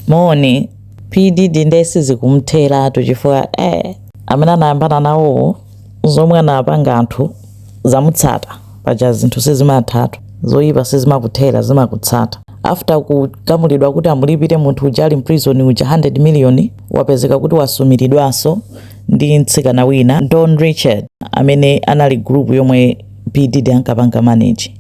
Moni. P Diddy nde sizikumtheratu chifukwa eh amene anayambana nawowo zomwe anapanga anthu zamutsata paja zinthu sizimathatu zoyipa sizimakuthera zimakutsata after kugamulidwa kuti amulipire munthu uja ali mprison uja 100 million wapezeka kuti wasumiridwanso ndi mtsikana wina Dawn Richard amene anali group yomwe P Diddy ankapanga manage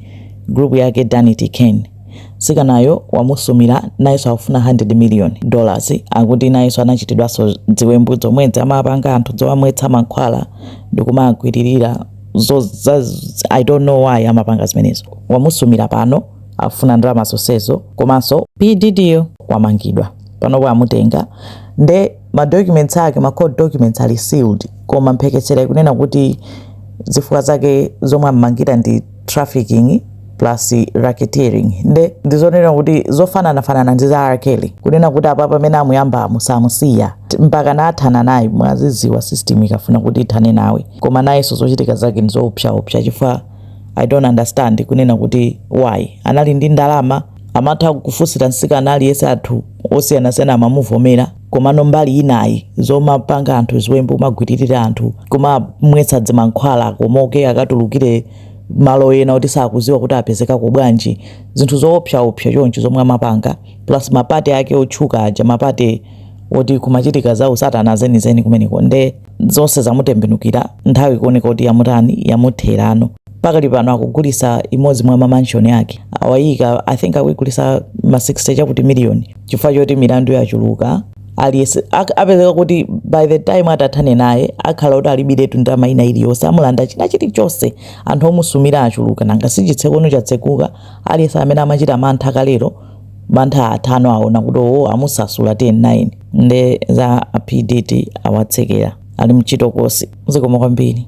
group yake Danity Kane Mtsikanayo wamusumila nayeso akufuna 100 million dollars akuti nayeso anachitidwaso dziwembu dzomwedzo amapanga anthu dzomamwetsa mankhwala ndikumagwililila zo I don't know why amapanga zimenezo wamusumila pano akufuna ndalama zosezo komaso P Diddy yo wamangidwa panopo amutenga nde ma documents ake ma court documents ali sealed koma mphekesera ikunena kuti zifukwa zake zomwe ammangira ndi trafficking plus racketeering nde ndizonena kuti zofananafanana ndi za R. Kelly kunena kuti apa pamene amuyamba samusiya mpaka athana naye mwaziwa system ikafuna kuti ithane nawe koma nayenso zochitika zake ndizoopsaopsa chifukwa i don't understand kunena kuti why anali ndi ndalama Amatha kufusira nsikana aliyese athu osiyanasiyana amamuvomera komano mbali inayi zomapanga anthu ziwembu kumagwililira anthu kumamwetsa dzimankhwala akomoke akatulukire Malo ena oti sakuziwa kuti apezekako bwanji zinthu zoopsa opsa choncho zomwe amapanga plus ma party ake otchuka aja ma party oti kumachitika za usatana zenizeni kumeneko nde zonse zamutembenukira nthawi kuoneka kuti yamutani yamutherano pakali pano akugulisa imodzi mwa mamanshoni ake awayika i think akuigulisa ma 60 chakuti miliyoni chifukwa choti milandu yachuluka aliyese apezeka kuti by the time atathane naye akhala kuti alibiretu ndalama ina iliyonse amulanda china chilichonse anthu omusumira achuluka nanga sichitseko chatsekuka aliyese amene amachita mantha kalero mantha atha ano aona kuti owo amumasula 10 9 nde za a P Diddy awatsekera ali mchitokosi zikomo kwambiri.